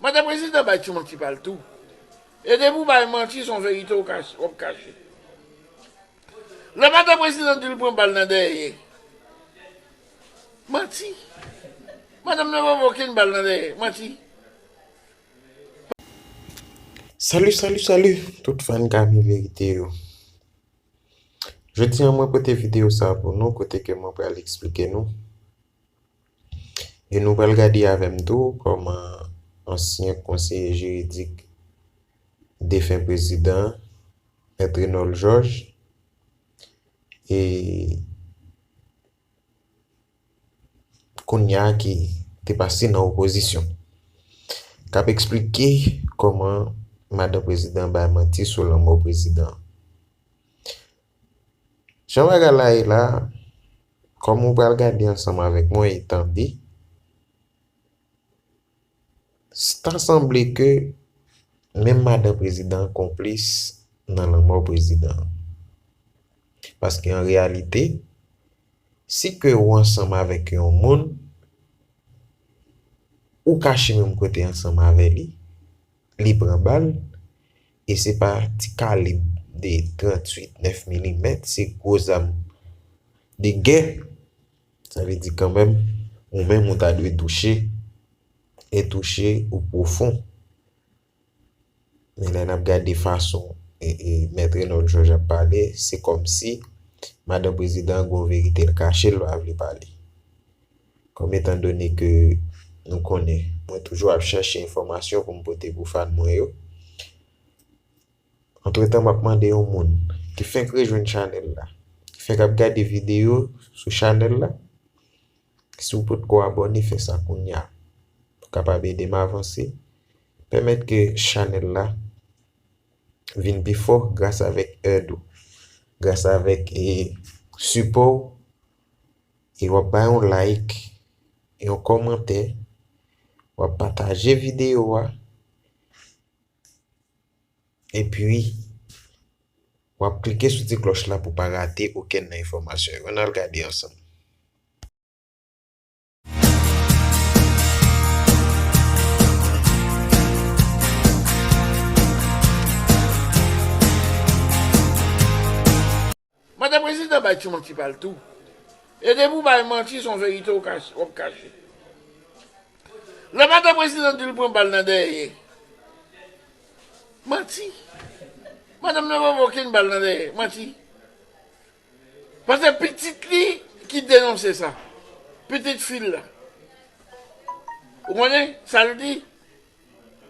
Mande prezidan bay ti manti pal tou e depi ou bay manti son verite wap kache lè mande prezidan dil pran bal nan dèyè manti madanm nan pa pran okenn bal nan dèyè manti. Salut salut salut tout fan Gamy vérité yo Jodi an mwen pote video sa pou nou kote ke mwen pral esplike nou E nou pral gade avè m tou kòman ansyen konseye jiridik defen prezidan Mèt Renòl Jòj e kounya ki te pase nan opozisyon k ap esplike kòman madan prezidan bay manti sou lanmò prezidan. Jan bagay la ye la, kòm ou pral gade ansanm avèk mwen e tande, ta sanble ke menm madan prezidan an konplis nan lanmò prezidan an. Paske an reyalite, si ke ou ansanm avèk yon moun, ou kache menm kote ansanm avè li, li pran bal, e se pa ti kalib de 38, 9 milimèt, se gwo zam de gè, sa vle di kanmenm, ou menm ou ta dwe touche, e touche ou pwofon. Men lè n ap gade fason Mèt Renold Georges ap pale, se kòmsi Madan Prezidan gen yon verite l kache, l pa vle pale. Kòm etan done ke nou konnen, mwen toujou ap chache enfòmasyon pou m pote pou fan mwen yo. Antretan m ap mande yon moun ki fenk rejwenn chanèl la, ki fenk ap gade videyo sou chanèl la, si w potko abòne fè sa kounya pou kapab ede m avanse, pèmèt ke chanèl la vin pi fò gras avèk èd ou, gras avèk sipò w E wap bay yon like, yon kòmantè, wap pataje videyo a, epi wap klike sou ti klòch la pou pa rate okenn nan enfòmasyon yo. Ann al gade ansanm. Mande prezidan bay ti manti pal tou. E depi ou bay manti son verite wap kache. Lè mande prezidan dil pran bal nan dèyè. Manti. Madanm nan pa pran okenn bal nan dèyè. Manti. Pase pitit li ki denonse sa. Pitit fil la. Ou konnen sal di.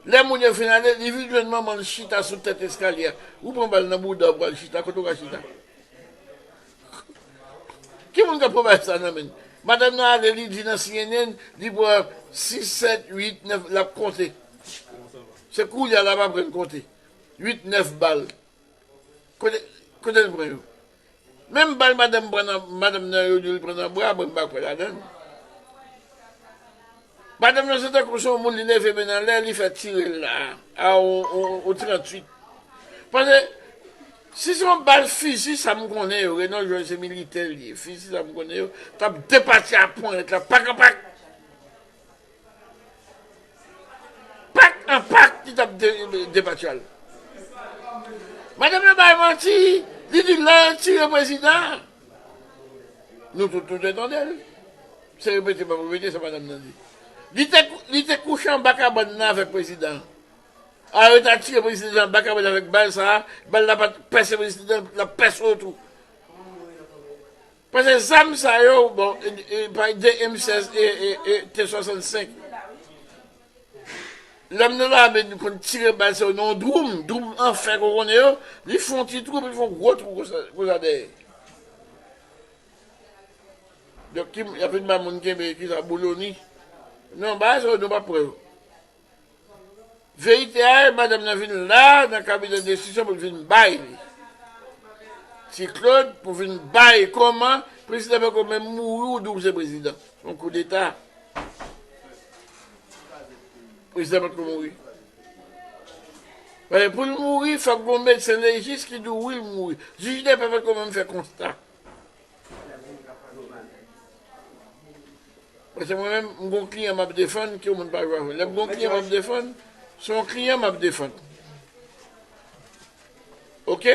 Lè moun yo fin ale, li vin jwenn manman l chita sou tèt eskalye a. Ou pran bal nan bouda w pral chita, kote w ka chita? Ki moun k ap pran bagay sa nan men l? Madam nan ale li di nan cnn li pran 6, 7, 8, 9, l ap konte. Se koulye a l ap aprann konte. 8, 9 bal. Kote l pran yo? Menm bal madanm pran nan madanm nan yo dil pran nan bra mwen m pa kwè ladann madanm nan se tankou son moun li leve men l anlè li fè tire l la a ou 38 pase si son bal fizi sa m konnen yo Reno jwenn se militè l ye fizi sa m konnen yo tap depati a ponyèt la pak a pak. Pak an pak ki tap debati al. Madanm nan bay manti, li di lè yo tire prezidan, nou tout nou te tande l. Se repete pa repete sa madanm nan di. Li te kouche anba kabann nan avèk prezidan. A yo ta tire prezidan anba kabann avèk bal sa, bal la pat pèse prezidan nan pèse l tou. Pase zam sa yo bon pay de M 16 e T 65 lèm nan lame nou konn tire bal sa yo nan yon dwoum dwoum an fè ke w konnen yo li fon ti twou epi li fon gwo twou konsa dèyè donk ki moun yap vin bay moun kenbe kisa boloni non bagay sa yo nou pap pran yo. Verite a e madanm nan vin la nan kabinè desizyon pou l vin bay li. Ti Claude pou vin bay koman prezidan pako menm mouri ou di w se prezidan. Yon koudeta. Prezidan pako mouri. Pou l mouri fòk gon medsen lejis ki di w wi l mouri. Jij depè pako menm fè konsta. Mwen se mwen menm, m gon kliyan map defann, ke moun pa jwe avèl. Lèm gon kliyan map defann, se yon kliyan map defann. Ok?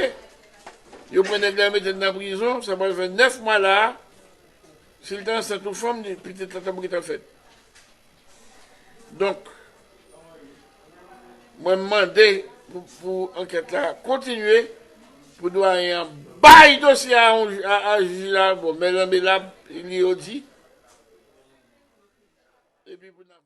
Yo pran nèg la yo metel nan prizon, sa pral fè 9 mwa la a, sil te ansent yon fanm, pitit la tap gentan fèt. Donk, mwen mande pou ankèt la kontinye, pou dwayen an bay dosye a a jij la, bon, Mèt Ranbe Lab, li yo di.